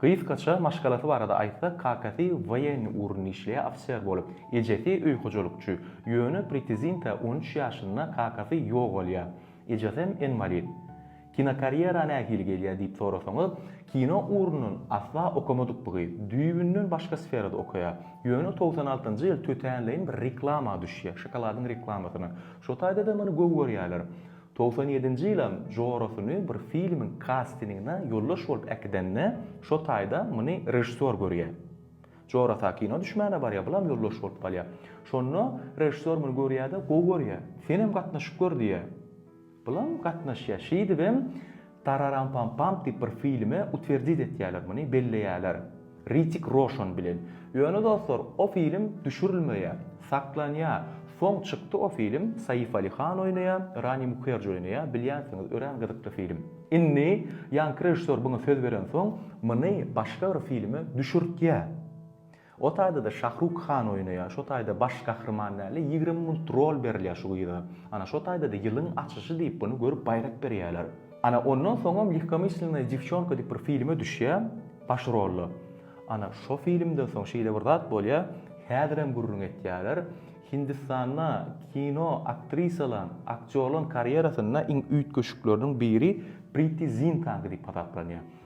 Gysgaça maşgalasy barada aýtsak, kakasy woýenniý ugrunda işleýär, ofiser bolup, ejesi öý hojalykçy. Ýöne Pritizinta on üç ýaşynda kakasy ýogalýar. Ejesem inwalid. Kinokarýera nähili gelýär diýip sorasaňyz, kino ugrundan asla okamadyk bu gyz. Düýbünden başga sferada okaýar. Ýöne togsan altynjy ýyl tötänleýin bir reklama düşýär, şokoladyň reklamasyna. Şo taýda-da muny gowy görýärler. Togsan ýedinji ýylam jorasyny bir filmiň kastinigine ýoldaş bolup äkidende şo taýda muny režissýor görýär. Jorasa kino düşmäne barýar, bulam ýoldaş bolup galýar. Şonda režissýor muny görýär-de, gowy görýär. Senem gatnaşyp gör diýýär. Bulam gatnaşýar. Şeýdibem Tararampampam diýip bir filme utwerdit etýäler muny, belleýäler. Ritik Roşan bilen. Ýöne dostlar, o film düşürilmeýär. Saklanýar. Soň çykdy o film, Saif Ali Khan oýnaýar, Rani Mukherji oýnaýar, bilýänsiňiz, örän gyzykly film. Indi ýaňky režissýor muňa söz berensoň, muny başga bir filme düşürtýär. O taýdada Şahruk Han oýnaýar, şo taýda baş gahryman dälde ýigrimi munt rol berilýär şu gyza. Ana şo taýdada ýylyň açyşy diýip bunu görüp baýrak berýäler. Ana ondan soňam Lehkomyslennaýa dewçonka diýip bir filme düşýär baş rolda. Ana şo filmden soň şeýle bir zat bolýar, häzirem gürrüň etýäler, Hindistanda kino aktrisalan, aktýorlaň karýerasynda iň üýtgeşikleriniň biri Priti Zintanka diýip hasaplanýar.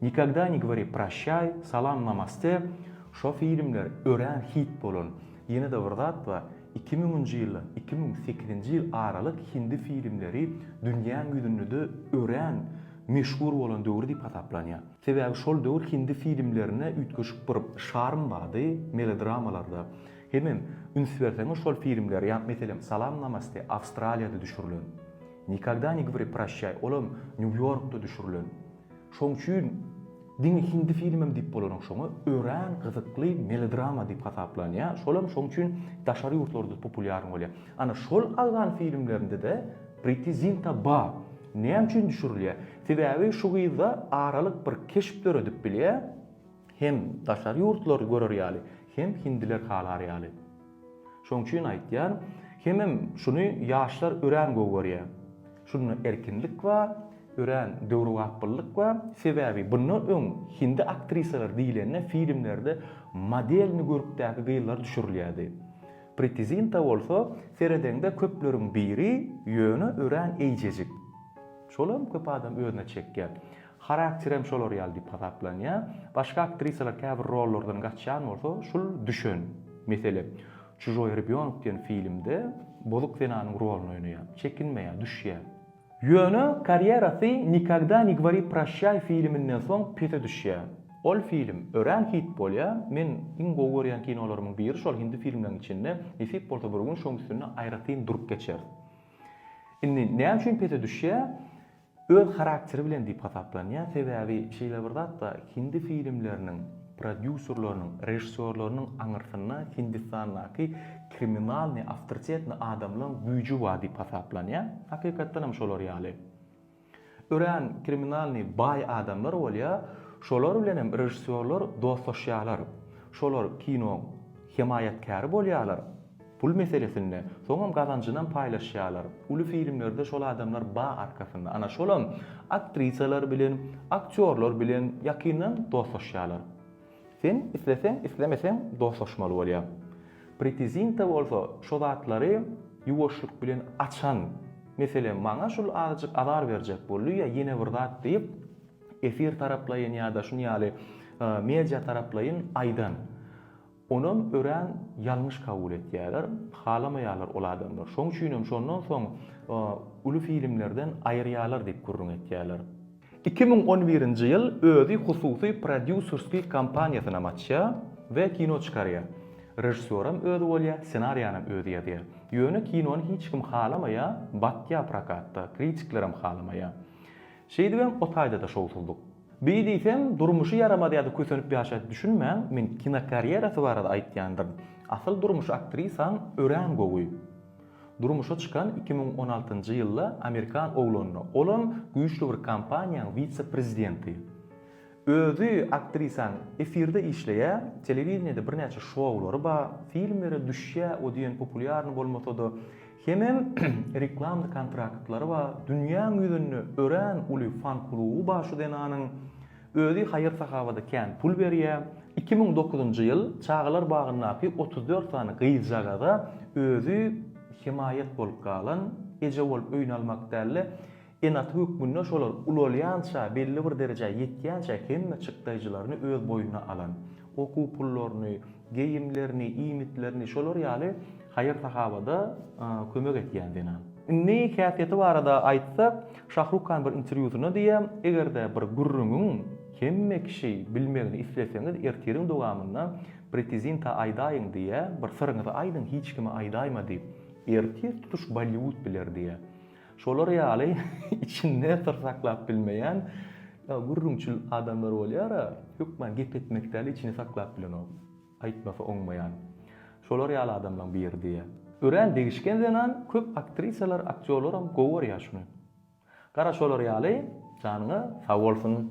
Nikogda ne govori prashçay, Salam namaste şo filmler örän hit bolan. Ýene-de bir zat bar, iki müňünji ýyldan iki müň sekizinji ýyl aralyk hindi filmleri dünýäň ýüzündede örän meşhur bolan döwür diýip hasaplanýar. Sebäbi şol döwür hindi filmlerine üýtgeşik bir şarm bardy, melodrammalarda. Hemem üns berseňiz şol filmler ýa meselem Salam namaste Awstraliýada düşürilen. Nikogda ne govori prashçay olam Nýu-Ýorkda düşürilen. Şoň üçin diňe hindi filmem diýip bolanok şoňa, örän gyzykly melodrama diýip hasaplanýar, şolam şoň üçin daşary ýurtlarda populýaryn bolýar. Ana şol Agzan filmlerinde-de Priti Zinta bar. Näme üçin düşürilýär? Sebäbi şu gyzda aralyk bir keşp döredip bilýär. Hem daşary ýurtlar görer ýaly, hem hindiler halar ýaly. Şoň üçin aýtýan, hemem şuny ýaşlar örän gowy görýä. Şunda erkinlik ba, örän döwrebapyllyk ba, sebäbi bundan öň hindi aktrisalar diýlende filmlerde modelni görkdäki gyzlar düşürilýädi. Priti Zinta bolsa seredeňde köpleriň biri, ýöne örän eýjejik. Şolam köp adam özüne çekýä. Harakterem şolar ýaly diýip hasaplanýar. Başga aktrisalar käbir rollardan gaçýan bolsa, şul düşen, meselem, Çužoý rebýonok diýen filmde bozuk zenanyň roluny oýnaýar. Çekinmeýär, düşýär. Ýöne karýerasy Nikogda ne gvari proşşaý filminden soň pese düşýär. Ol film örän hit bolýar. Men iň gowy görýän kinolarymyň biri şol hindi filmleriň içinde. Nesip bolsa bir gün şoň üstünde aýratyn durup geçeris. Indi näme üçin pese düşýär? Öz harakteri bilen diýip hasaplanýar, sebäbi şeýle bir zatda hindi filmleriniň prodýuserleriniň, režissýorlarynyň aňyrsynda Hindistandaky kriminalnyý, awtoritetnyý adamlaň güýji bar diýip hasaplanýar. Hakykatdan hem şolar ýaly. Örän kriminalnyý baý adamlar bolýar, şolar bilen hem režissýorlar dostlaşýarlar. Şolar kinoň hemaýatkäri bolýarlar. Pul meselesinde soňam gazanjynam paýlaşýarlar. Uly filmlerde şol adamlar ba arkasynda. Ana şolam aktrisalar bilen, aktýorlar bilen ýakyndan dostlaşýarlar. Sen isleseň, islemeseň dostlaşmaly bolýa. Pritizinta bolsa şo zatlary ýuwaşlyk bilen açan. Meselem maňa şul azajyk azar berjek boldy ýa ýene bir zat diýip efir taraplaýyn ýa-da şun ýaly media taraplaýyn aýdan. Onam örän ýalňyş kabul etýärler, halamaýarlar ol adamlar. Şoň üçinem şondan soň uly filmlerden aýyrýarlar diýip gürrüň etýärler. Iki müň on birinji ýyl özi hususy prodýuserskiý kompaniýasynam açýar we kino çykarýar. Režissýoram özi bolýar, ssenariýanam özi ýazýar. Ýöne kinony hiç kim halamaýar, batýar prokatda, kritiklerem halamaýar. Şeýdibem o taýda-da şowsuzlyk. Bi diýseň, durmuşy ýaramaz ýa-da kösenip ýaşaýdy düşünmäň, men kinokarýerasy barada aýtýandyryn. Asyl durmuşy aktrisaň örän gowy. Durmuşa çykan iki müň on altynjy ýylda amerikan oglanyna, olam güýçli bir kompaniýaň wise-prezidenti. Özi aktrisaň efirde işleýä, telewideniýede birnäçe şoulary bar, filmlere düşýä, o diýen populýarny bolmasa-da, Hemem reklamny kontraktlary bar, dünýäň ýüzünde örän uly fan kluby bar şu zenanyň. Özi haýyr-sahawada kän pul berýär. Iki müň dokuzynjy ýyl çagalar bagyndaky otuz dört sany gyzjagaza özi hemaýat bolup galan, eje bolup öýnalmak dälde, Ene-ata hökmünde şolar ulalýança, belli bir derejä ýetýänçä hemme çykdaýjylaryny öz boýnuna alan, okuw pullaryny, geýimlerini, iýmitlerini şolar ýaly haýyr-sahawada kömek etýän zenan. Indi häsiýeti barada aýtsak, Şahruk Kan bir interwýusynda diýýär, Eger-de bir gürrüňiň hemme kişi bilmegini isleseňiz, ertiriň dowamynda Pritizinta aýdaýyň diýýär, bir syryňyzy aýdyň, hiç kime aýdaýma diýip. Ertir tutuş Bolliwud biler diýýär. Şolar ýaly içinde syr saklap bilmeýän gürrüňçil adamlar bolýar-a, hökman gep etmek däl, içini saklap bilenok. Aýtmasa oňmaýan. Şolar ýaly adamlaň biri-diýýä. Örän degişgen zenan, köp aktrisalar, aktýorlaram gowy görýär şuny. Gara şolar ýaly, janyňyz sag bolsun!